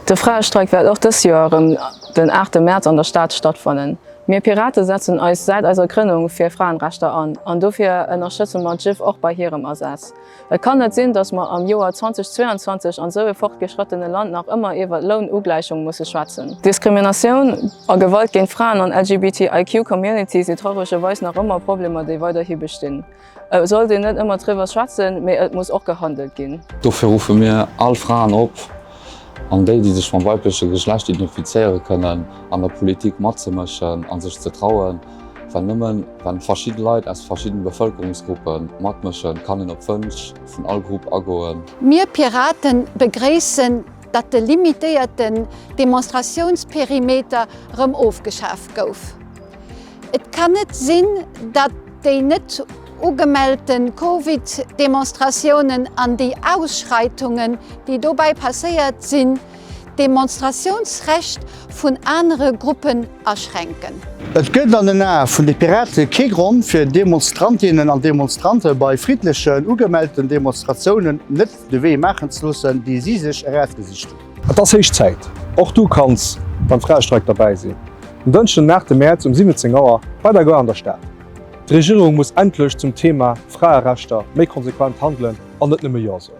De Fraestreik wäert och dës Joer erëm den aachte Mäerz an der Stad stattfannen. Mir Pirate setzen eis säit eiser Grënnung fir Fraenrechter an, an dofir ënnerstëtze mer d'Jiff och bei hirem Asaz. Et kann net sinn, datt mer am Joer 2022 an esou e fortgeschrëttene Land nach ëmmer iwwer Lounugläichung musse schwätzen. Diskriminatioun a Gewalt géint Fraen an LGBTIQ-Community si trauregerweis nach ëmmer Problemer, déi weiderhi bestinn. Et sollt een net ëmmer driwwer schwätzen, mee et muss och gehandelt ginn. Dofir ruffe mir all Fraen op, an déi, déi sech mam weibleche Geschlecht identifizéiere kënnen, an der Politik matzemëschen a sech ze trauen. Well nëmme wann verschidde Leit aus verschiddene Bevëlkerungsgruppe matmëschen, kann een op d'Wënsch vun all Grupp agoen. Mir Piraten begréissen, datt de limitéierten Demonstratiounsperimeter rëm ofgeschaaft gouf. Et kann net sinn, datt déi net ugemellte Covid-Demonstratiounen an déi Ausschreitungen, déi dobäi passéiert sinn, d'Demonstratiounsrecht vun anere Gruppen aschränken. Et gëtt an den Ae vun de Pirate kee Grond, fir Demonstrantinnen an Demonstrante bei friddlechen, ugemellten Demonstratiounen net de Wee maachen ze loossen, dee si sech erausgesicht hunn. Et ass héich Zäit! Och du kanns beim Fraestreik derbäi sinn, den Dënschden den 8 Mäerz um 17 Auer bei der Gare an der Stad. D'Regierung muss endlech zum Thema Fraerechter méi konsequent handelen an net nëmme Jo soen.